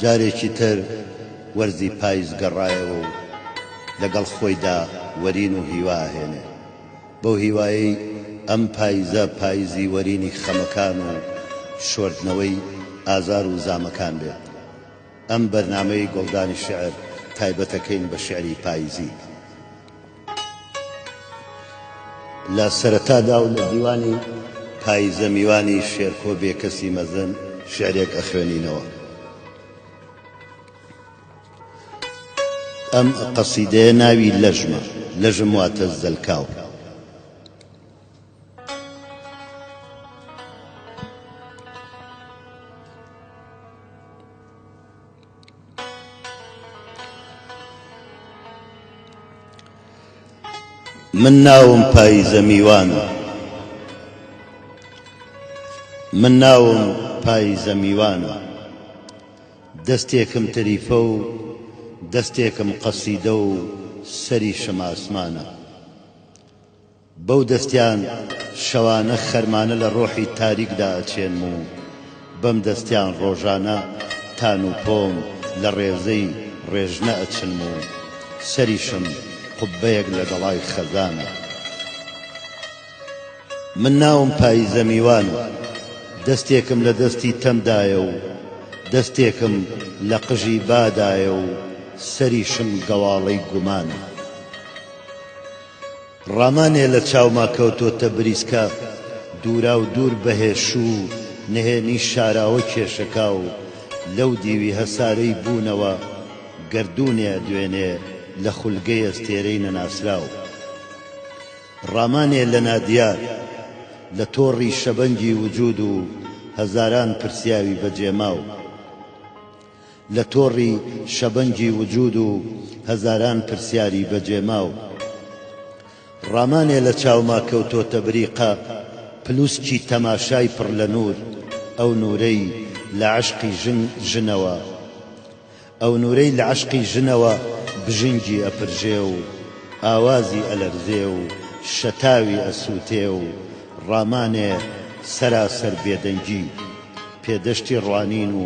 جارێکی تر وەرزی پایز گەڕایەوە و لەگەڵ خۆیدا وەرین و هیوا ئەهێنێ، بەو هیوایەی ئەم پایزە پایزی وەرینی خەمەکان و شۆردنەوەی ئازار و زامەکان بێت. ئەم بەرنامەی گوڵدانی شیعر تایبەتەکەین بە شیعری پایزی. لە سەرەتادا و لە دیوانی پاییزە میوانی شێرکۆ بێکەسی مەزن شعرێک ئەخوێنینەوە. ئەم قەسیدەیە ناوی لەژمە، لەژم واتە زەلکاو. من ناوم پایزە میوانە من ناوم پایزە میوانە دەستێکم تەریفە و دەستێکم قەسیدە و سەریشم ئاسمانە بەو دەستیان شەوانە خەرمانە لە ڕۆحی تاریکدا ئەچێنم و بەم دەستیان ڕۆژانە تان و پۆم لە ڕێزەی ڕێژنە ئەچنم و سەریشم قوببەیەک لە گەڵای خەزانە. من ناوم پاییزە میوانە، دەستێکم لە دەستی تەم دایە و دەستێکم لە قژی با دایە و سەریشم گەواڵەی گومانە. ڕامانێ لە چاوما کەوتۆتە بریسکە دووراو دوور بەهێ شوو نهێنی شاراوە کێشەکاو لەو دیوی هەسارەی بوونەوە گەردوونێ ئەدوێنێ لە خولگەی ئەستێرەی نەناسراو ڕامانێ لە نادیار لە تۆڕی شەبەنگی وجوود و هەزاران پرسیاوی بەجێماو. لە تۆڕی شەبەنگی وجود و هەزاران پرسیاری بەجێماو ڕامانێ لە چاوما کەوتۆتە بریقە پلوسکی تەماشای پڕ لە نور ئەو نورەی لە عەشقی ژن ژنەوە ئەو نورەی لە عەشقی ژنەوە بژنگی ئەپرژێ و ئاوازی ئەلەرزێ و شەتاوی ئەسوتێ و ڕامانێ سەراسەر بێدەنگی پێدەشتی ڕوانین و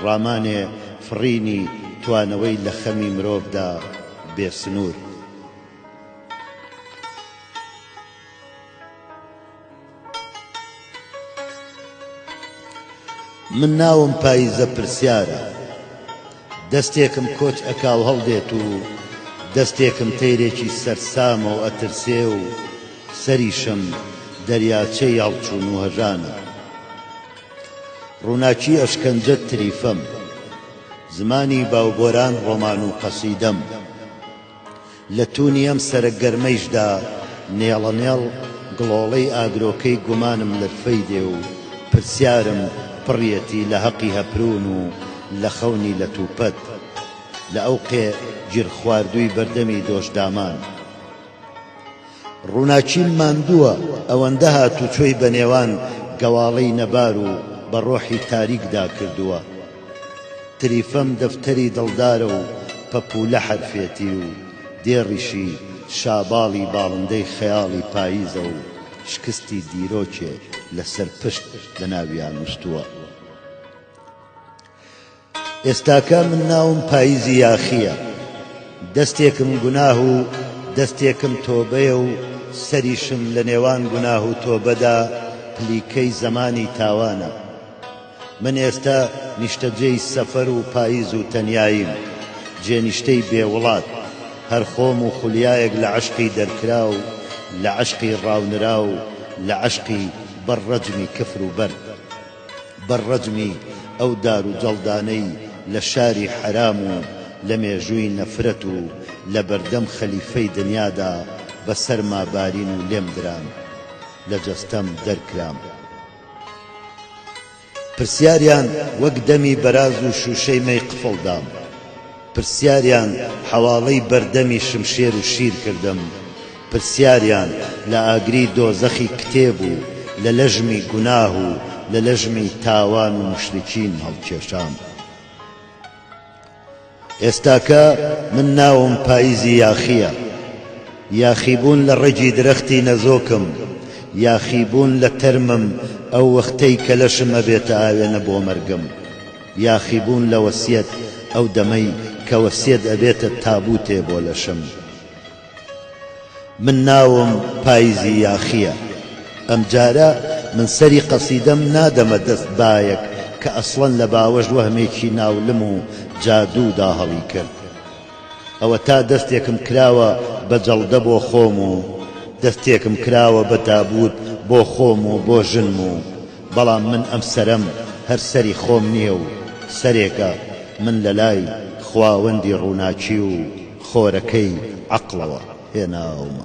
ڕامانێ فڕینی توانەوەی لە خەمی مرۆڤدا بێ سنوور. من ناوم پاییزە پرسیارە. دەستێکم کۆچ ئەکا و هەڵدێت و دەستێکم تەیرێکی سەرسامە و ئەترسێ و سەریشم دەریاچەی هەڵچوون و هەژانە. ڕووناکی ئەشکەنجە تریفەم. زمانی باوبۆران ڕۆمان و قەسیدەم. لە توونی ئەم سەرە گەرمەیشدا نێڵەنێڵ گڵۆڵەی ئاگرۆکەی گومانم لرفەی دێ و پرسیارم پڕیەتی لە هەقی هەپروون و لە خەونی لەتوپەت لە ئەوقێ گیرخواردووی بەردەمی دۆشدامان. ڕووناکیم ماندووە ئەوەندە هاتوچۆی بە نێوان گەواڵەی نەبار و بە ڕۆحی تاریکدا کردووە تریفەم دەفتەری دڵدارە و پەپوولە حەرفێتی و دێڕیشی شاباڵی باڵندەی خەیاڵی پاییزە و شکستی دیرۆکێ لەسەر پشت لەناویان نووستووە. ئێستاکە من ناوم پایزی یاخییە دەستێکم گوناه و دەستێکم تۆبەیە و سەریشم لە نێوان گوناه و تۆبەدا پلیکەی زەمانی تاوانە من ئێستا نیشتەجێی سەفەر و پایز و تەنیاییم جێنیشتەی بێ وڵات هەر خۆم و خولیایەک لە عەشقی دەرکراو لە عەشقی ڕاونراو لە عەشقی بەر ڕەجمی کفر و بەرد. بە ڕەجمی ئەو دار و جەڵدانەی لە شاری حەرام و لە مێژووی نەفرەت و لە بەردەم خەلیفەی دنیادا بە سەرما بارین و لێم دران لە جەستەم دەرکرام پرسیاریان وەک دەمی بەراز و شووشەی مەی قفڵ دام. پرسیاریان حەواڵەی بەردەمی شمشێر و شیر کردم پرسیاریان لە ئاگری دۆزەخی کتێب و لە لەژمی گوناه و لە لەژمی تاوان و موشریکین هەڵکێشام ئێستاکە من ناوم پاییزی یاخییە یاخیبوون لە ڕەگی درەختی نەزۆکم یاخیبوون لە تەرمم ئەو وەختەی کە لەشم ئەبێتە ئاوێنە بۆ مەرگم. یاخیبوون لە وەسیەت ئەو دەمەی کە وەسیەت ئەبێتە تابوتێ بۆ لەشم من ناوم پایزی یاخیە ئەمجارە من سەری قەسیدەم نادەمە دەست بایەک کە ئەسڵەن لە باوەش وەهمێکی ناولم و جادوو دا هەڵی کرد ئەوەتا دەستێکم کراوە بە جەڵدە بۆ خۆم و دەستێکم کراوە بە تابووت بۆ خۆم و بۆ ژنم و بەڵام من ئەم سەرەم هەر سەری خۆم نییە و سەرێکە، من لە لای خواوەندی ڕووناکی و خۆرەکەی عەقڵەوە هێناومە.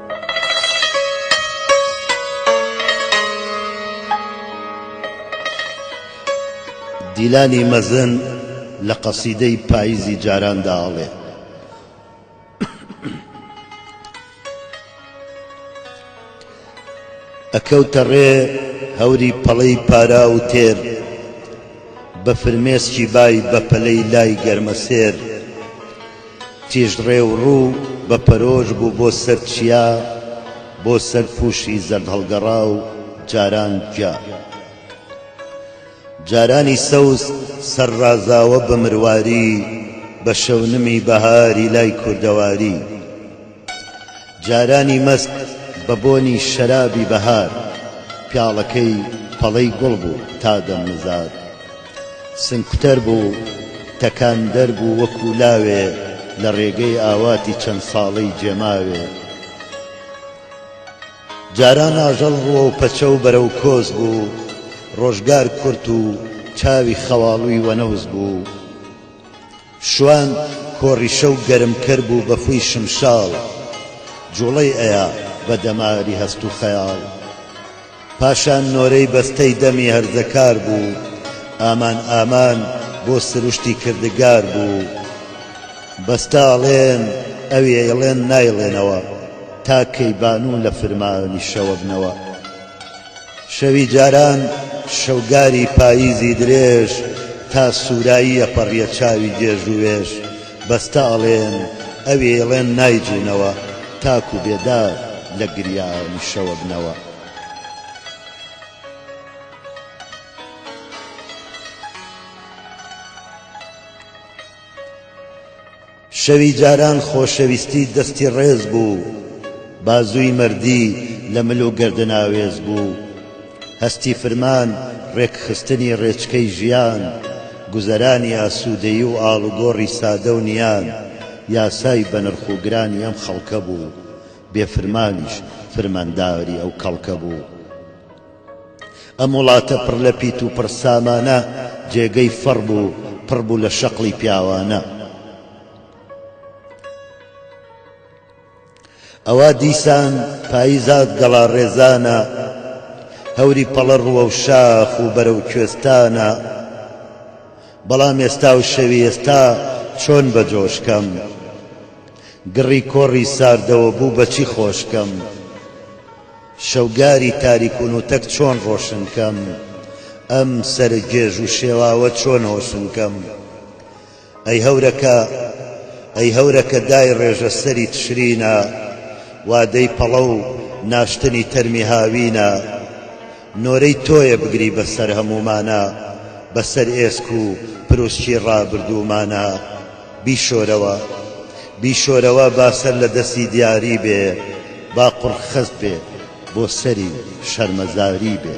دیلانی مەزن لە قەسیدەی پاییزی جاراندا ئەڵێ. ئەکەوتە ڕێ هەوری پەڵەی پارا و تێر بە فرمێسکی بای بە پەلەی لای گەرمەسێر تیژ ڕێ و ڕوو بە پەرۆش بوو بۆ سەر چیا، بۆ سەر پووشی زەردهەڵگەڕا و جاران گیا. جارانی سەوز سەر ڕازاوە بە مرواری، بە شەونمی بەهاری لای کوردەواری. جارانی مەست بە بۆنی شەرابی بەهار پیاڵەکەی پەڵەی گوڵ بوو تا دەمنزاد سنگکوتەر بوو تەکاندەر بوو وەکوو لاوێ لە ڕێگەی ئاواتی چەند ساڵەی جێماوێ جاران ئاژەڵ ڕووە و پەچە و بەرە و کۆز بوو ڕۆژگار کورت و چاوی خەواڵووی وەنەوز بوو شوان کۆری شەو گەرم کەر بوو بە خووی شمشاڵ جووڵەی ئەیا بە دەماری هەست و خەیاڵ پاشان نۆرەی بەستەی دەمی هەرزەکار بوو ئامان ئامان بۆ سروشتی کردگار بوو بەستە ئەڵێن ئەوی ئەیڵێن نایڵێنەوە تا کەی بانوو لە فرمانی شەوە بنەوە. شەوی جاران شەوگاری پاییزی درێژ تا سوورایی ئەپەڕیە چاوی گێژ و وێژ بەستە ئەڵێن ئەوێیڵێن نایجوونەوە تاکوو بێدار لە گریانی شەوەبنەوە. شەوی جاران خۆشەویستی دەستی ڕێز بوو بازووی مەردی لە مل و گەردن ئاوێز بوو هەستی فرمان ڕێکخستنی ڕێچکەی ژیان گوزەرانی ئاسوودەیی و ئاڵوگۆڕی سادە و نیان یاسای بەنرخ و گرانی ئەم خەڵکە بوو بێ فرمانیش فرمانداری ئەو کەڵکە بوو. ئەم وڵاتە پڕ لە پیت و پڕ سامانە جێگەی فەڕ بوو پڕ بوو لە شەقڵی پیاوانە ئەوا دیسان پاییزات گەڵا ڕێزانە هەوری پەڵە ڕووە و شاخ و بەرە و کوێستانە بەڵام ئێستا و شەوی ئێستا چۆن بە جۆشکەم گڕی کۆڕی ساردەوە بوو بەچی خۆشکەم شەوگاری تاریک و نوتەک چۆن ڕۆشن کەم؟ ئەم سەر گێژ و شێواوە چۆن هۆشن کەم؟ ئەی هەورەکە، ئەی هەورەکە دای ڕێژە سەری تشرینە، وادەی پەڵە و ناشتنی تەرمی هاوینە، نۆرەی تۆیە بگری بە سەر هەموومانە، بە سەر ئێسک و پروسکی ڕابردوومانە. بیشۆرەوە بیشۆرەوە با سەر لە دەستی دیاری بێ با قوڕ خەست بێ بۆ سەری شەرمەزاری بێ.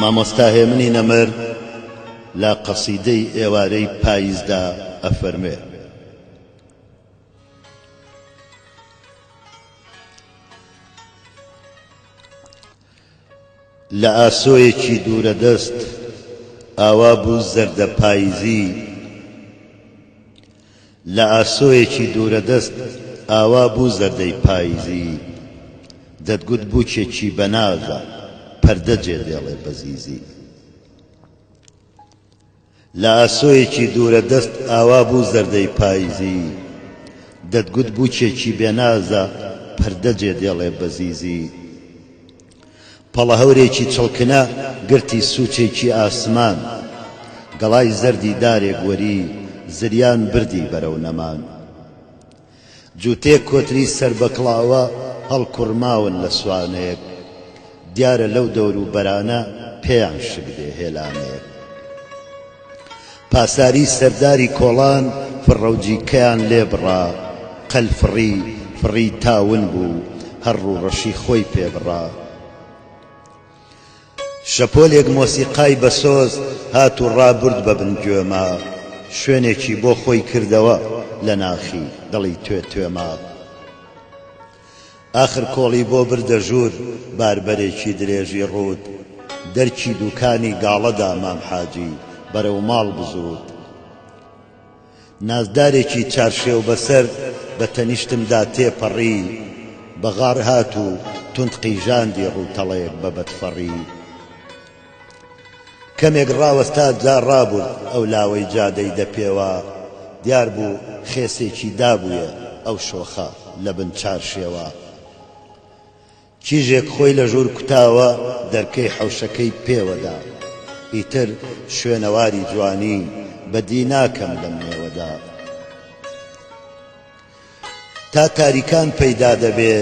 مامۆستا هێمنی نەمر لە قەسیدەی ئێوارەی پاییزدا ئەفەرموێ. لە ئاسۆیەکی دوورە دەست ئاوا بوو زەردە پاییزی، لە ئاسۆیەکی دوورەدەست ئاوا بوو زەردەی پایزی دەتگوت بووکێکی بەنازە پەردە جێ دێڵێ بە زیزی لە ئاسۆیەکی دوورە دەست ئاوا بوو زەردەی پایزی دەتگوت بووکێکی بێنازە پەردە جێ دێڵێ بە زیزی پەڵەهەورێکی چڵکنە گرتی سوچێکی ئاسمان گەڵای زەردی دارێک وەری زریان بردی بەرەو نەمان جوتێک کۆتری سەر بە کڵاوە هەڵکوڕماون لە سوانەیەک دیارە لەو دەورو بەرانە پێیان شک دێ هێلانەیەک. پاساری سەرداری کۆڵان فڕەوجیکەیان لێ بڕا، قەل فڕی فڕی تا ون بوو، هەر ڕووڕەشی خۆی پێ بڕا. شەپۆلێک مۆسیقای بەسۆز هات و ڕابرد بە بن گوێما، شوێنێکی بۆ خۆی کردەوە لە ناخی دڵی توێ توێما. ئاخر کۆڵی بۆ بردە ژوور باربەرێکی درێژی ڕووت دەرکی دووکانی گاڵە دا مام حاجی بەرەو ماڵ بزووت نازدارێکی چارشێو بەسەر بە تەنیشتم دا تێ پەڕی بەغاڕ هات و توند قیژاندی ڕووتەڵێک بە بەدفەڕی کەمێک ڕاوەستا جا ڕابورد ئەو لاوەی جادەی دە پێوا دیار بوو خێسێکی دابوویە ئەو شۆخە لە بن چار شێوا کیژێک خۆی لە ژوور کوتاوە دەرکەی حەوشەکەی پێوە دا ئیتر شوێنەواری جوانی بە دی ناکەم لەم نێوەدا. تا تاریکان پەیدا دەبێ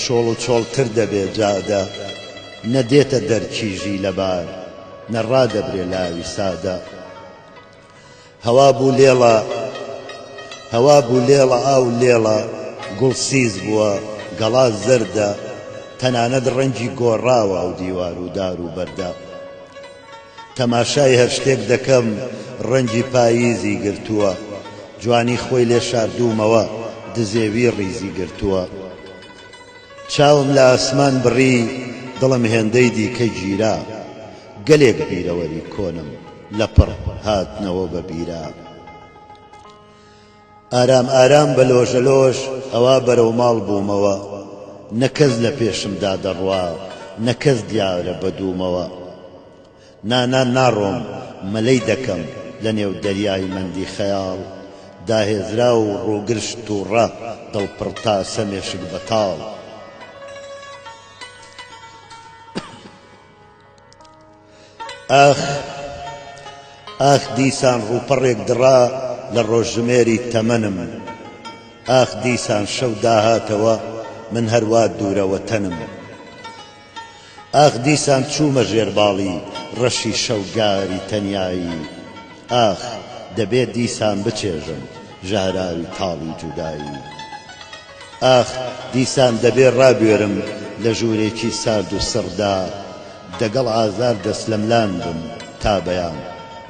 چۆڵ و چۆڵ تر دەبێ جادە نە دێتە دەر چیژی لەبار نە ڕادەبرێ لاوی سادە هەوا بوو لێڵە هەوا بوو لێڵە ئاو لێڵە گوڵ سیز بووە گەڵا زەردە تەنانەت ڕەنگی گۆڕاوە ئەو دیوار و دار و بەردە. تەماشای هەر شتێک دەکەم ڕەنگی پاییزی گرتووە جوانی خۆی لێ شاردوومەوە دزێوی ڕیزی گرتووە چاوم لە ئاسمان بڕی دڵم هێندەی دیکە گیرا گەلێک بیرەوەری کۆنم لەپڕ هاتنەوە بە بیرا. ئارام ئارام بە لۆژە لۆژ ئەوا بەرەو ماڵ بوومەوە نە کەس لە پێشمدا دەڕوا نە کەس دیارە بە دوومەوە نا نا ناڕۆم مەلەی دەکەم لە نێو دەریای مەندی خەیاڵ دا هێزراو و ڕووگرش تووڕە دڵ پڕ تاسە مێشک بەتاڵ. ئاخ ئاخ دیسان ڕووپەڕێک دڕا لە ڕۆژژمێری تەمەنم ئاخ دیسان شەو داهاتەوە من هەروا دوورە وەتەنم ئاخ دیسان چوومە ژێر باڵی ڕەشی شەوگاری تەنیایی ئاخ دەبێ دیسان بچێژم ژەهراوی تاڵی جودایی. ئاخ دیسان دەبێ ڕابوێرم لە ژوورێکی سارد و سڕدا دەگەڵ ئازار دەسلەملان بم تا بەیان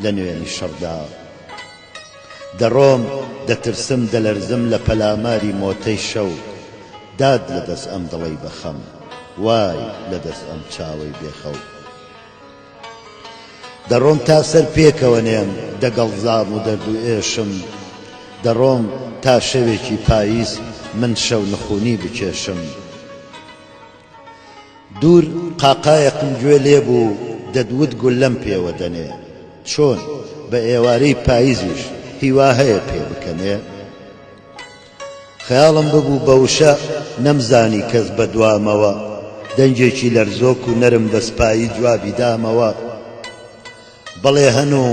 لە نوێنی شەڕدا دەڕۆم دەترسم دەلەرزم لە پەلاماری مۆتەی شەو داد لە دەس ئەم دڵەی بەخەم وای لە دەس ئەم چاوەی بێخەو. دەڕۆم تا سەر پێکەوە نێم دەگەڵ زاڕ و دەرد و ئێشم دەڕۆم تا شەوێکی پاییز من شەو نخونی بکێشم دوور قاقایەکم گوێ لێ بوو دەدوت گوللەم پێوە دەنێ چۆن بە ئێوارەی پاییزیش هیوا هەیە پێ بکەنێ؟ خەیاڵم ببوو بە وشە نەمزانی کەس بە دوامەوە دەنگێکی لەرزۆک و نەرم بە سپایی جوابی دامەوە بەڵێ هەن و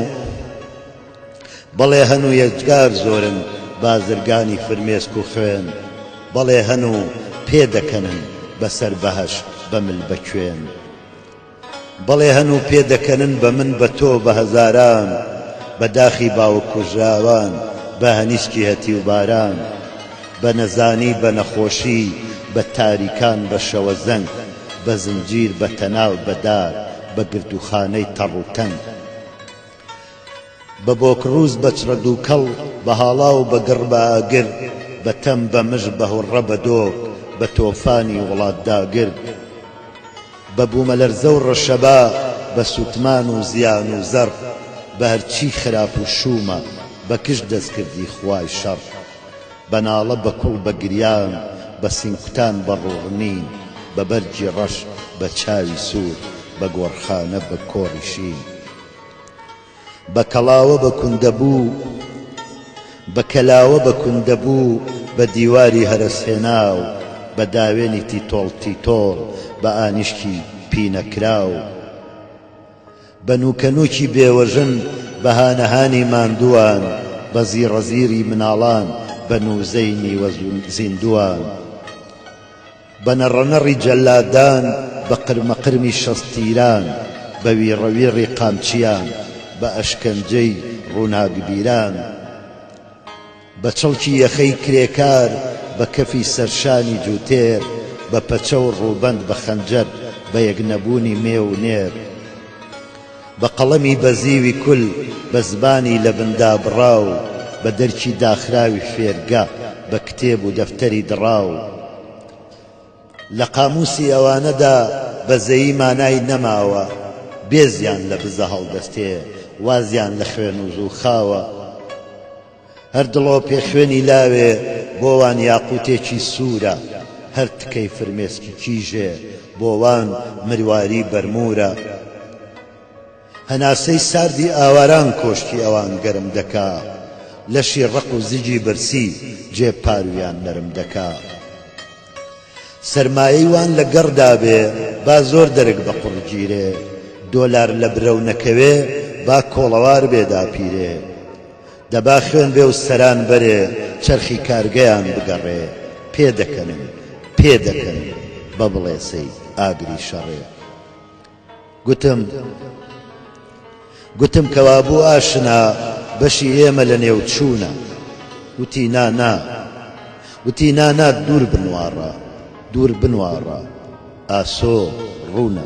بەڵێ هەن و یەجگار زۆرن بازرگانی فرمێسک و خوێن بەڵێ هەن و پێ دەکەنن بەسەر بەهەشت بە مل بە کوێن. بەڵێ هەن و پێ دەکەنن بە من بە تۆ بە هەزاران بە داخی باوک کوژراوان بە هەنیشکی هەتیو باران بە نەزانی بە نەخۆشی بە تاریکان بە شەوەزەنگ بە زنجیر بە تەناو بە دار بە گردوخانەی تەڕ و تەنگ. بە بۆکڕووز بە چڕە دووکەڵ بە هاڵا و بە گڕ بە ئاگر بە تەم بە مژ بە هوڕڕە بە دۆک بە تۆفانی وڵات داگر بە بوومەلەرزە و ڕەشەبا بە سووتمان و زیان و زەڕ بە هەر چی خراپ و شوومە بە کژ دەستکردی خوای شەڕ بە ناڵە بە کوڵ بە گریان بە سینگکوتان بە ڕووڕنین بە بەرگی ڕەش بە چاوی سوور بە گۆڕخانە بە کۆڕی شین بە کەڵاوە بە کوندە بوو بە کەلاوە بە کوندە بوو بە دیواری هەرەس هێناو بە داوێنی تیتۆڵ تیتۆڵ بە ئانیشکی پینەکراو بە نووکە نووکی بێوەژن بە هانە هانی ماندووان بە زیڕە زیری مناڵان بە نووزەی نیوە زیندووان. بە نەڕەنەڕی جەلادان بە قرمەقرمی شەست تیران بە ویڕەویڕی قامچیان بە ئەشکەنجەی ڕووناکبیران بە چڵکی یەخەی کرێکار بە کەفی سەرشانی جووتێر بە پەچە و ڕووبەند بە خەنجەر بە یەکنەبوونی مێ و نێر بە قەڵەمی بەزیوی کول، بە زمانی لەبن دابڕاو، بە دەرکی داخراوی فێرگە، بە کتێب و دەفتەری دڕاو. لە قامووسی ئەوانەدا بەزەیی مانای نەماوە، بێزیان لە بزە هەڵدەستێ، وازیان لە خوێن و زوو خاوە. هەر دڵۆ پێ خوێنی لاوێ بۆ وان یاقووتێکی سوورە هەر تکەی فرمێسکی کیژێ بۆ وان مرواری بەرموورە هەناسەی ساردی ئاواران کۆشکی ئەوان گەرم دەکا لەشی ڕەق و زگی برسی جێ پاروویان نەرم دەکا. سەرمایەی وان لە گەڕ دابێ با زۆر دەرک بە قوڕ گیرێ دۆلار لە برەو نەکەوێ با کۆڵەوار بێ داپیرێ دە با خوێن بێ و سەران بەرێ چەرخی کارگەیان بگەڕێ پێ دەکەنم پێ دەکەن بە بڵێسەی ئاگری شەڕێ گوتم گوتم کەوابوو ئاشنا بەشی ئێمە لە نێو چوونە وتی نا نا وتی نا نا دوور بنواڕە دوور بنواڕە ئاسۆ ڕوونە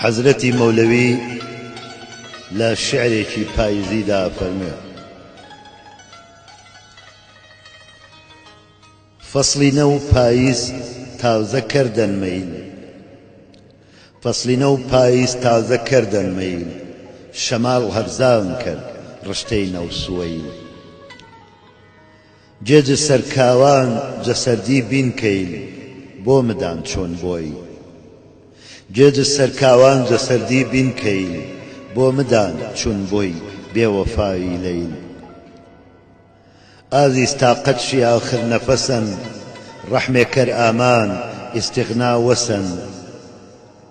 حەزرەتی مەولەوی لە شعرێکی پاییزیدا فەرموێ فەسڵی نەو پاییز تازە کردن مەیل فەسڵی نەو پاییز تازە کردن مەیل شەماڵ هەرزان کرد ڕشتەی نەوسوەیل جێ جسر کاوان جسردی بین کەیل بۆ مدان چۆن بۆی جێ جسر کاوان جسردی بین کەیل بۆ مدان چون بۆی بێ وەفایی لەیل ئازیز تاقەت شی ئاخر نەفەسەن ڕەحمێ کەر ئامان ئیستغنا وەسەن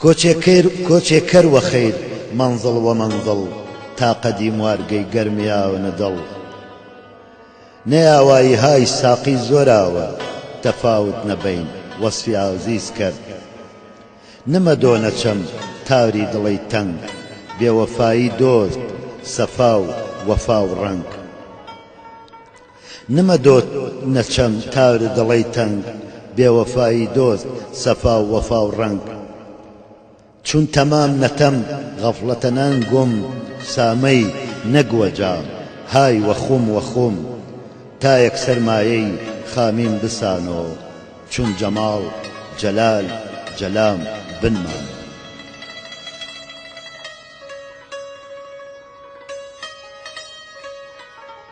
کۆچێکەیر کۆچێ کەر وە خەیر مەنزڵ وە مەنزڵ تا قەدی موارگەی گەرمیاو نە دڵ نە یاوایی های ساقی زۆراوە تەفاوت نە بەین وەسفی ئازیز کەر نە مە دۆ نە چەم تاوری دڵەی تەنگ بێوەفایی دۆست سەفا و وەفا و ڕەنگ. نمە دۆت نەچەم تار و دڵەی تەنگ بێوەفایی دۆست سەفا و وەفا و ڕەنگ چون تەمام نەتەم غەفڵەتە نان گوم سامەی نەگ وە جام های وە خوم وە خوم تایەک سەرمایەی خامیم بسانۆ چون جەماڵ جەلال جەلام بن مانۆ.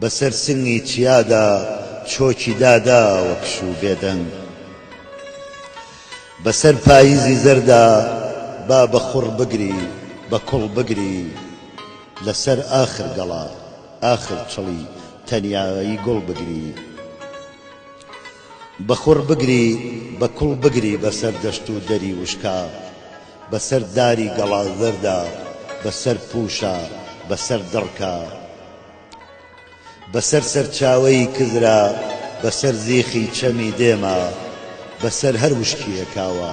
بەسەر سنگی چیادا چۆکی دادا وەک شوو بێدەنگ بەسەر پاییزی زەردا با بە خوڕ بگری بە کوڵ بگری لەسەر ئاخر گەڵا ئاخر چڵی تەنیایی گوڵ بگری بە خوڕ بگری بە کوڵ بگری بەسەر دەشت و دەری وشکا بەسەر داری گەڵا زەردا بەسەر پووشە بەسەر دڕکە بەسەر سەرچاوەی کزرا بەسەر زیخی چەمی دێما بەسەر هەر وشکییەکاوە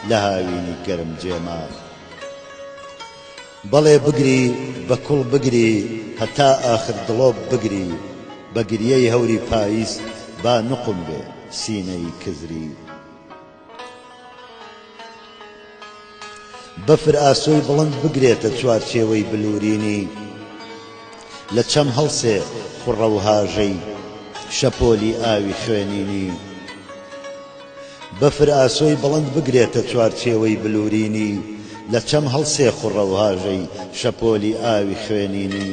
لە هاوینی گەرم جێما بەڵێ بگری بە کوڵ بگری هەتا ئاخر دڵۆپ بگری بە گریەی هەوری پاییز با نوقم بێ سینەی کزری بەفر ئاسۆی بڵند بگرێتە چوارچێوەی بلورینی لە چەم هەڵسێ خوڕە و هاژەی شەپۆلی ئاوی خوێنینی بەفر ئاسۆی بڵند بگرێتە چوارچێوەی بلورینی لە چەم هەڵسێ خوڕە و هاژەی شەپۆلی ئاوی خوێنینی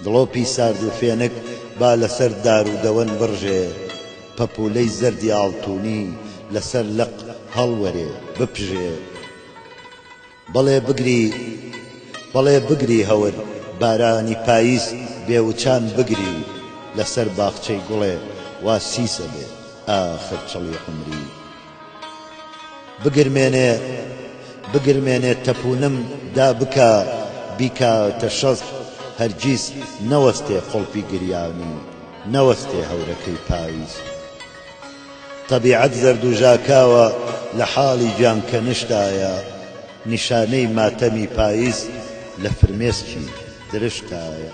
دڵۆپی سارد و فێنک با لەسەر دار و دەوەن بڕژێ پەپوولەی زەردی ئاڵتوونی لەسەر لق هەڵوەرێ، بپژێ. بەڵێ بگری، بەڵێ بگری هەور، بارانی پاییز بێ وچان بگری لەسەر باخچەی گوڵێ وا سیسە بێ ئاخر چڵی عومری. بگرمێنێ بگرمێنێ تەپوونم دا بکا بیکاتە شەست هەرگیز نەوەستێ قوڵپی گریانی نەوەستێ هەورەکەی پایز تەبیعەت زەرد و ژاکاوە لە حاڵی گیان کەنشتایە نیشانەی ماتەمی پایز لە فرمێسکی درشتایە.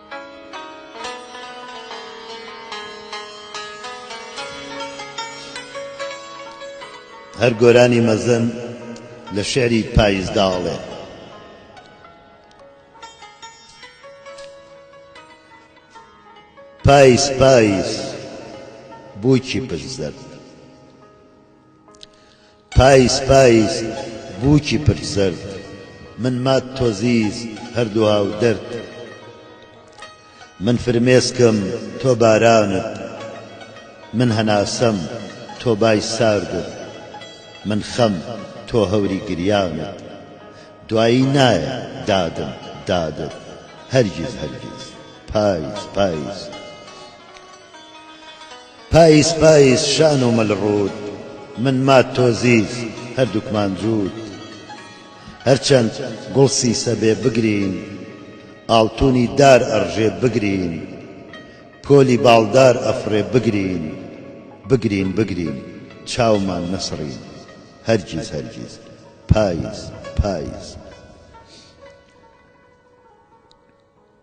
هەر گۆرانی مەزن لە شعری پایزدا ئەڵێ پایز پایز بووکی پشت زەرد پایز پایز بووکی پرچ زەرد. من مات تۆزیز هەر دوا و دەرد. من فرمێسکم تۆ بارانت. من هەناسەم تۆ بای ساردت. من خەم تۆ هەوری گریانت. دوایی نایە دادم دادت. هەرگیز هەرگیز پایز پایز. پایز پایز شان و مل ڕووت من مات تۆ زیز هەردووکمان جووت هەرچەند گوڵ سیسە بێ بگرین ئاڵتونی دار ئەڕژێ بگرین پۆلی باڵدار ئەفڕێ بگرین بگرین بگرین چاومان نەسڕین هەرگیز هەرگیز پایز پایز.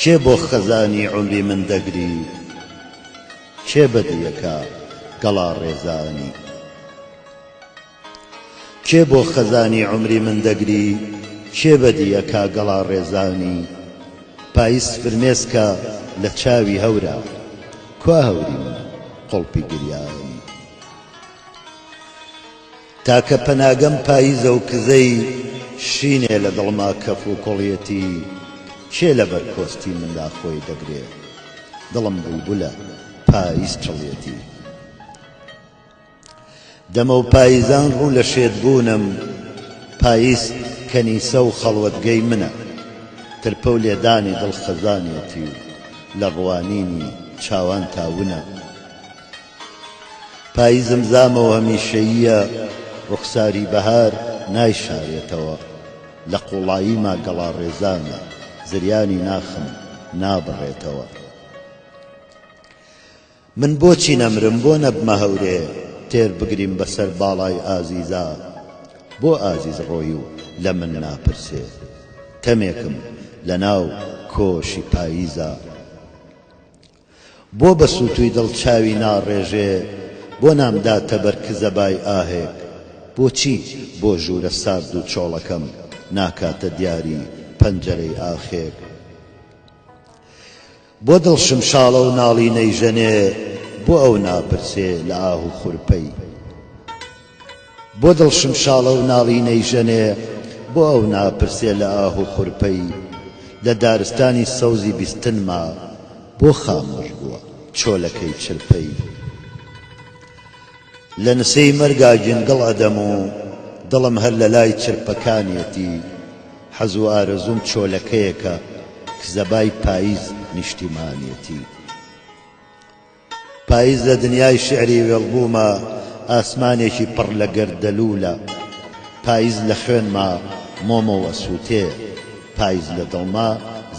کێ بۆ خەزانی عومری من دەگری کێ بەدیەکە گەڵا ڕێزانی کێ بۆ خەزانی عومری من دەگری کێ بەدیەکە گەڵا ڕێزانی پایز فرمێسکە لە چاوی هەورە کوا هەوری من قوڵپی گریانی تاکە پەناگەم پاییزە و کزەی شینێ لە دڵما کەف و کوڵیەتی کێ لە بەر کۆستی مندا خۆی دەگرێ دڵم بولبولە پاییز چڵیەتی دەمە و پاییزان ڕوو لە شێت بوونم پاییز کەنیسە و خەڵوەتگەی منە ترپە و لێدانی دڵ خەزانیەتی و لە ڕوانینی چاوانتا ونە. پاییزم زامە و هەمیشەییە، ڕوخساری بەهار نایشارێتەوە، لە قووڵاییما گەڵاڕێزانە، زریانی ناخم نابڕێتەوە. من بۆچی نەمرم، بۆ نەبمە هەورێ، تێر بگریم بەسەر باڵای ئازیزا؟ بۆ ئازیز ڕۆی و لە من ناپرسێ، تەمێکم لەناو کۆشی پاییزا؟ بۆ بە سووتووی دڵ چاوی ناڕێژێ بۆ نامداتە بەر کزەبای ئاهێک بۆچی بۆ ژوورە سارد و چۆڵەکەم ناکاتە دیاری پەنجەرەی ئاخێک بۆ دڵ شمشاڵە و ناڵی نەیژەنێ بۆ ئەو ناپرسێ لە ئاه و خورپەی بۆ دڵ شمشاڵە و ناڵینەی ژەنێ بۆ ئەو ناپرسێ لە ئاه و خورپەی لە دارستانی سەوزی بیستنما بۆ خامۆش بووە چۆلەکەی چرپەی لە نسێی مەرگا گیندڵ ئەدەم و دڵم هەر لە لای چرپەکانیەتی حەز و ئارەزووم چۆلەکەیەکە کزەبای پایز نیشتیمانیەتی. پایز لە دنیای شیعری وێڵبووما ئاسمانێکی پڕ لە گەردەلوولە پایز لە خوێنما مۆمەو ئەسووتێ پایز لە دڵما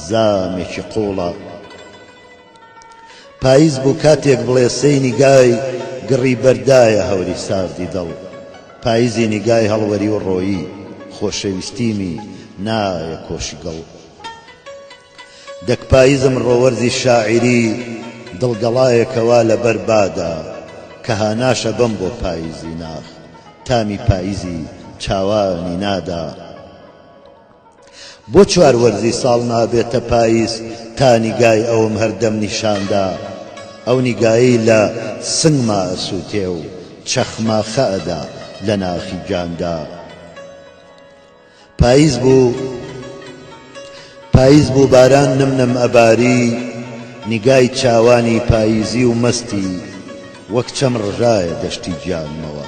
زامێکی قووڵە پایز بوو کاتێک بڵێسەی نیگای گڕی بەردایە هەوری ساردی دڵ پایزی نیگای هەڵوەری و ڕۆیی خۆشەویستیمی نایە کۆشی گڵ دەک پایزم ڕۆەرزی شاعیری دڵ گەڵایەکە وا لە بەر بادا کە هاناشە بەم بۆ پایزی ناخ تامی پایزی چاوانی نادا بۆ چوار وەرزی ساڵ نابێتە پایز تا نیگای ئەوم هەردەم نیشاندا ئەو نیگایی لە سنگما ئەسووتێ و چەخماخە ئەدا لە ناخی گیاندا. پایز بوو پایز بوو باران نم نم ئەباری نیگای چاوانی پایزی و مەستی وەک چەم ڕژایە دەشتی گیانمەوە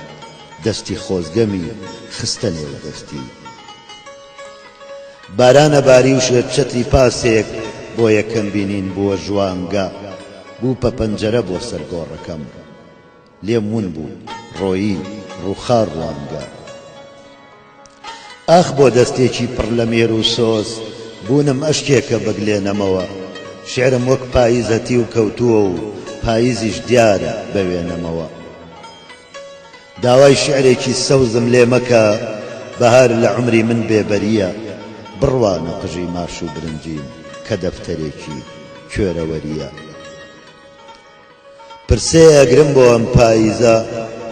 دەستی خۆزگەمی خستە نێو دەستی باران ئەباری و شێت چەتری پاسێک بۆ یەکەم بینین بووە ژوانگە بوو پە پەنجەرە بۆ سەر گۆڕەکەم. لێم ون بوو ڕۆیی ڕووخا ڕوانگە. ئاخ بۆ دەستێکی پڕ لە مێر و سۆز بوونم ئەشکێکە بگلێنەمەوە شیعرم وەک پاییزە تیو کەوتووە و پاییزیش دیارە بەوێنەمەوە داوای شیعرێکی سەوزم لێ مەکە بەهار لە عومری من بێبەرییە بڕوانە قژی ماش و برنجیم کە دەفتەرێکی کوێرەوەرییە. پرسێ ئەگرم بۆ ئەم پاییزە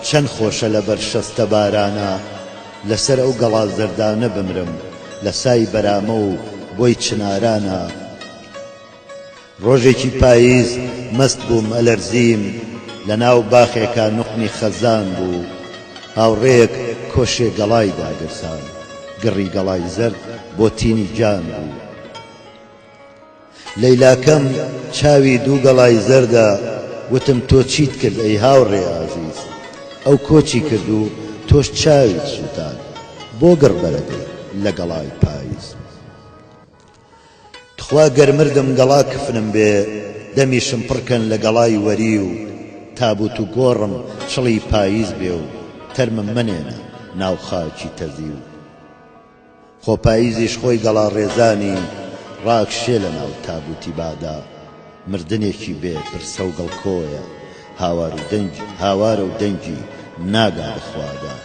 چەن خۆشە لە بەر شەستە بارانە لە سەر ئەو گەڵا زەردانە بمرم لە سای بەرامە و بۆی چنارانە ڕۆژێکی پاییز مەست بووم ئەلەرزیم لە ناو باخێکا نوقمی خەزان بوو هاوڕێیەک کۆشێ گەڵای داگرسان گڕی گەڵای زەرد بۆ تینی جان بوو. لەیلاکەم چاوی دوو گەڵای زەردە وتم تۆ چیت کرد ئەی هاوڕێ ئازیز ئەو کۆچی کرد و تۆش چاویت سووتاند بۆ گڕ بەرە دێ لە گەڵای پایز تخوا گەر مردم گەڵا کفنم بێ دەمیشم پڕ کەن لە گەڵای وەری و تابوت و گۆڕم چڵی پایز بێ و تەرمم مەنێنە ناو خاکی تەزی و. خۆ پاییزیش خۆی گەڵاڕێزانی ڕاکشێ لە ناو تابووتی بادا، مردنێکی بێ پرسە و گڵکۆیە، هاوار و دەنگی، هاوارە و دەنگی ناگا بە خوادا.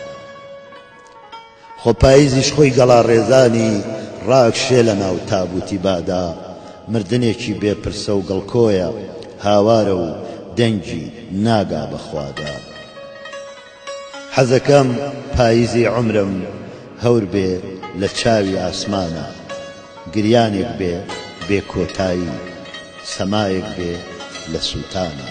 خۆ پاییزیش خۆی گەڵاڕێزانی ڕاکشێ لە ناو تابووتی بادا، مردنێکی بێ پرسە و گڵکۆیە، هاوارە و دەنگی ناگا بە خوادا. حەزەکەم پایزی عومرم هەور بێ لە چاوی ئاسمانا گریانێک بێ بێ کۆتایی سەمایەک بێ لە سووتانا.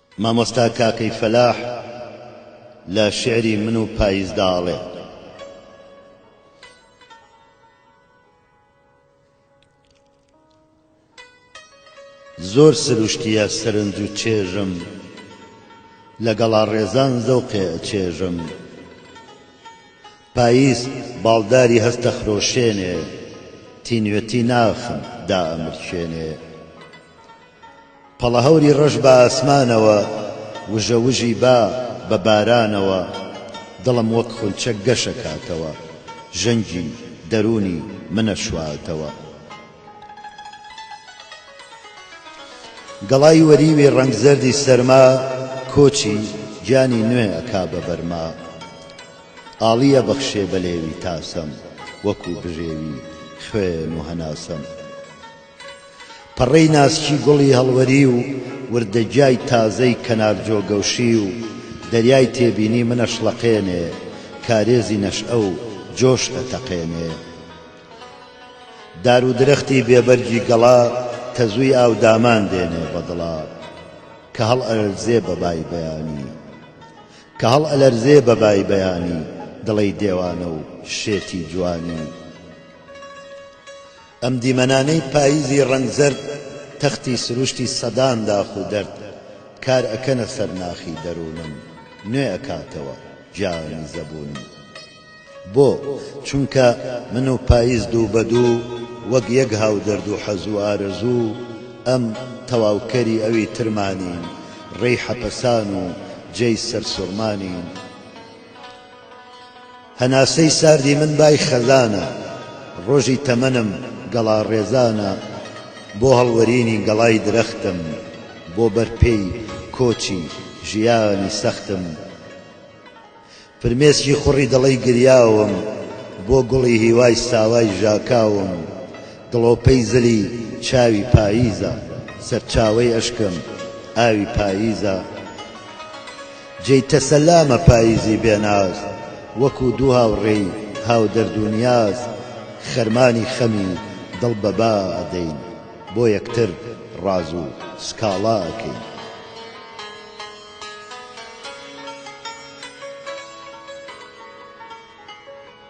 مامۆستا کاکەی فەلاح لە شیعری من و پاییزدا ئەڵێ. زۆر سروشتییە سەرنج و چێژم لە گەڵاڕێزان زەوقێ ئەچێژم پاییز باڵداری هەست ئەخرۆشێنێ تینوێتی ناخم دائەمرچێنێ. پەڵەهەوری ڕەش بە ئاسمانەوە وژە وژی با بە بارانەوە دڵم وەک خونچە گەشەکاتەوە ژەنگی دەروونی منەشواتەوە گەڵای وەریوی ڕەنگ زەردی سەرما کۆچی گیانی نوێ ئەکا بە بەرما ئاڵی ئەبەخشێ بە لێوی تاسەم وەکوو بژێوی خوێن و هەناسەم پەڕەی ناسکی گوڵی هەڵوەری و وردەگیای تازەی کەنار جۆگەوشی و دەریای تێبینی منەشڵەقێنێ، کارێزی نەشئە و جۆش ئەتەقێنێ. دار و درەختی بێ بەرگی گەڵا تەزووی ئاو دامان دێنێ بە دڵا کە هەڵئەلەرزێ بە بای بەیانی، کە هەڵئەلەرزێ بە بای بەیانی دڵەی دێوانە و شێتی جوانی. ئەم دیمەنانەی پاییزی ڕەنگ زەرد تەختی سروشتی سەدان داخ و دەرد کار ئەکەنە سەر ناخی دەروونم نوێ ئەکاتەوە جامی زەبوونم بۆ؟ چونکە من و پاییز دوو بە دوو وەک یەک هاودەرد و حەز و ئارەزوو ئەم تەواوکەری ئەوی ترمانین ڕێی حەپەسان و جێی سەرسوڕمانین. هەناسەی ساردی من بای خەزانە، ڕۆژی تەمەنم گەڵا ڕێزانە، بۆ هەڵوەرینی گەڵای درەختم، بۆ بەر پێی کۆچی ژیانی سەختم، فرمێسکی خوڕی دڵەی گریاوم، بۆ گوڵی هیوای ساوای ژاکاوم، دڵۆپەی زلی چاوی پاییزە، سەرچاوەی ئەشکم ئاوی پاییزە، جێی تەسەلامە پاییزی بێ ناز وەکوو دوو هاوڕێی هاودەرد و نیاز خەرمانی خەمی دڵ بە با ئەدەین بۆ یەکتر ڕاز و سکاڵا ئەکەین.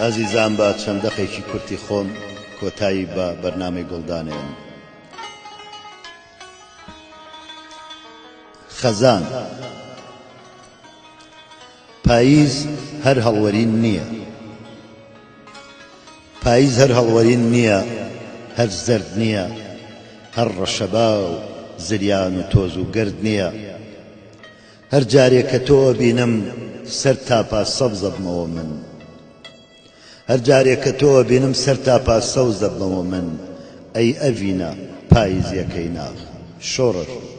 ئازیزان با چەند دەقێکی کورتی خۆم کۆتایی بە بەرنامەی گوڵ دانێم. خەزان پاییز هەر هەڵوەرین نییە پاییز هەر هەڵوەرین نییە هەر زەرد نییە هەر ڕەشەبا و زریان و تۆز و گرد نییە هەر جارێ کە تۆ ئەبینم سەر تاپا سەوز ئەبمەوە من هەر جارێ کە تۆ ئەبینم سەر تاپا سەوز ئەبمەوە من ئەی ئەڤینە پاییزیەکەی ناخ شۆڕش بوو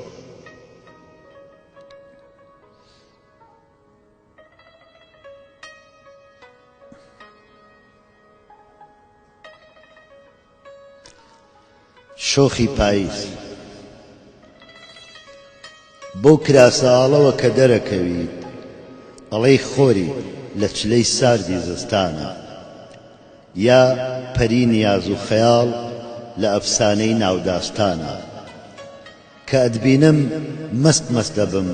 شۆخی پایز بەو کراسە ئاڵەوە کە دەرەکەویت ئەڵێی خۆری لە چلەی ساردی زستانە یا پەری نیاز و خەیاڵ لە ئەفسانەی ناوداستانە کە ئەتبینم مەست مەست دەبم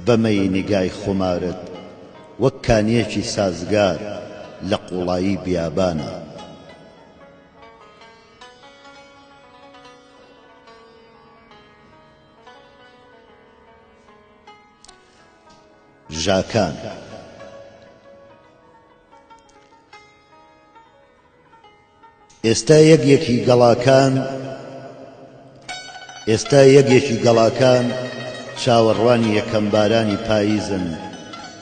بەمەی نیگای خۆمارت وەک کانیەکی سازگار لە قوڵایی بیابانە. ژاکان، ئێستا یەک یەکی گەڵاکان، ئێستا یەگێکی گەڵاکان چاوەڕوانی یەکەم بارانی پاییزن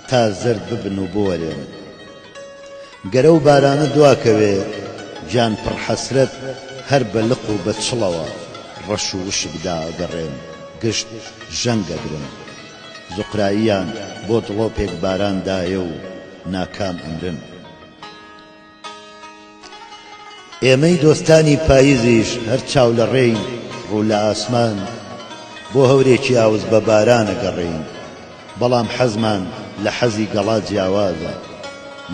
تا زەرد ببن و بوەرێن. گەر ئەو بارانە دواکەوێ گیان پڕ حەسرەت هەر بە لق و بە چڵەوە ڕەش و وشک دائەگەڕێن گشت ژەنگ ئەگرن. زوقراییان بۆ دڵۆپێک باران دایە و ناکام ئەمرن. ئێمەی دۆستانی پاییزیش هەر چاو لە ڕێی ڕوو لە ئاسمان بۆ هەورێکی ئاوس بە باران ئەگەڕێین، بەڵام حەزمان لە حەزی گەڵا جیاوازە،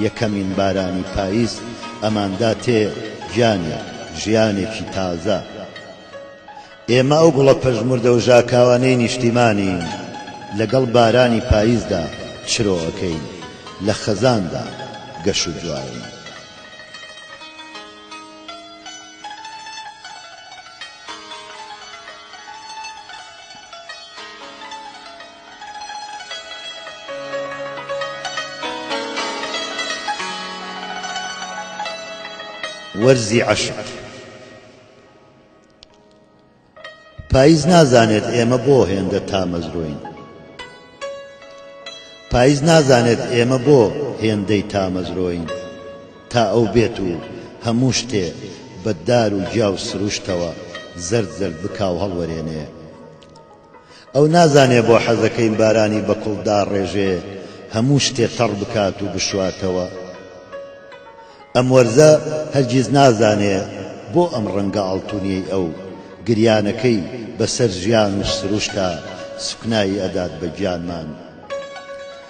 یەکەمین بارانی پاییز ئەماندا تێ گیانێک، ژیانێکی تازە. ئێمە ئەو گوڵە پەژموردە و ژاکاوانەی نیشتیمانین لەگەڵ بارانی پاییزدا چرۆ ئەکەین، لە خەزاندا گەش و جوانین. وەرزی عەشق. پایز نازانێت ئێمە بۆ هێندە تامەزرۆین پایز نازانێت ئێمە بۆ هێندەی تامەزرۆین تا ئەو بێت و هەموو شتێ بەدار و گیا و سروشتەوە زرد زرد بکاو هەڵوەرێنێ ئەو نازانێ بۆ حەزەکەی بارانی بە کوڵ داڕێژێ هەموو شتێ تەڕ بکات و بشواتەوە. ئەم وەرزە هەرگیز نازانێ بۆ ئەم ڕەنگە ئاڵتونیەی ئەو، گریانەکەی بە سەر ژیان و سروشتا سوکنایی ئەدات بە گیانمان.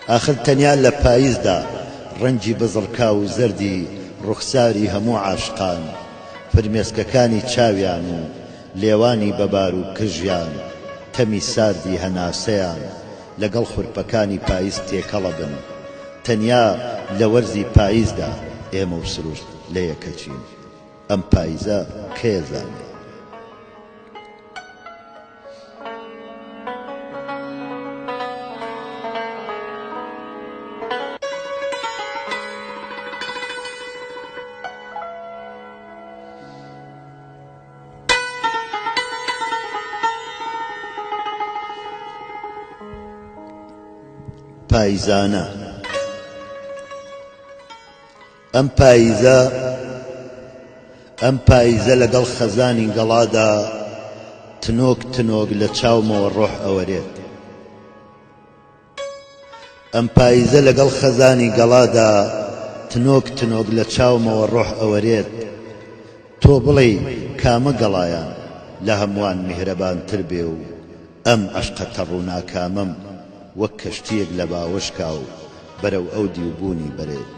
ئاخر تەنیا لە پایزدا ڕەنگی بزڕکاو و زەردی ڕوخساری هەموو عاشقان، فرمێسکەکانی چاویان و، لێوانی بەبار و کژیان تەمی ساردی هەناسەیان لەگەڵ خورپەکانی پایز تێکەڵە بن. تەنیا لە وەرزی پایزدا ئێمە و سروشت لە یەکەچین. ئەم پایزە کێ زانێ؟ پایزانە ئەم پایزە ئەم پایزە لەگەڵ خەزانی گەڵادا تنۆک تنۆک لە چاومەوە ڕۆح ئەوەرێت ئەم پایزە لەگەڵ خەزانی گەڵادا تنۆک تنۆک لە چاومەوە ڕۆح ئەوەرێت تۆ بڵێی کامە گەڵایان لە هەمووان میهرەبانتر بێ و ئەم عەشقە تەڕ و ناکامەم وەک کەشتییەک لە باوەشکاو بەرەو ئەو دیو بوونی بەرێت.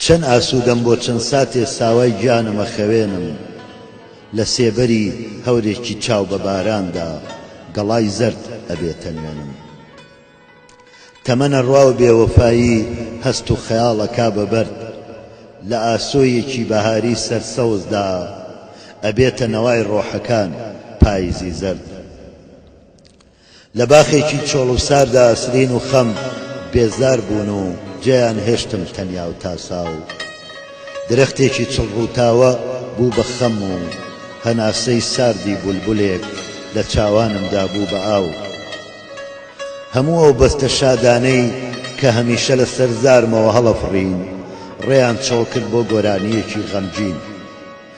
چەن ئاسوودەم بۆ چەن ساتێ ساوای گیانم ئەخەوێنم لە سێبەری هەورێکی چاو بە باراندا گەڵای زەرد ئەبێتە نوێنم تەمەنە ڕواو بێوەفایی هەست و خەیاڵ ئەکا بە بەرد لە ئاسۆیەکی بەهاری سەر سەوزدا ئەبێتە نەوای ڕۆحەکان پایزی زەرد. لە باخێکی چۆڵ و ساردا سرین و خەم بێزار بوون و جێیان هێشتم تەنیا و تاسا و درەختێکی چڵ ڕووتاوە بوو بە خەم و هەناسەی ساردی بولبولێک لە چاوانمدا بوو بە ئاو هەموو ئەو بەستە شادانەی کە هەمیشە لە سەر زارمەوە هەڵەفڕین ڕێیان چۆڵ کرد بۆ گۆرانییەکی غەمگین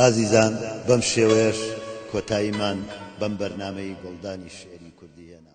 ئازیزان بەم شێوەیەش کۆتاییمان بەم بەرنمەی گۆڵدانی شعری کوردی هێنا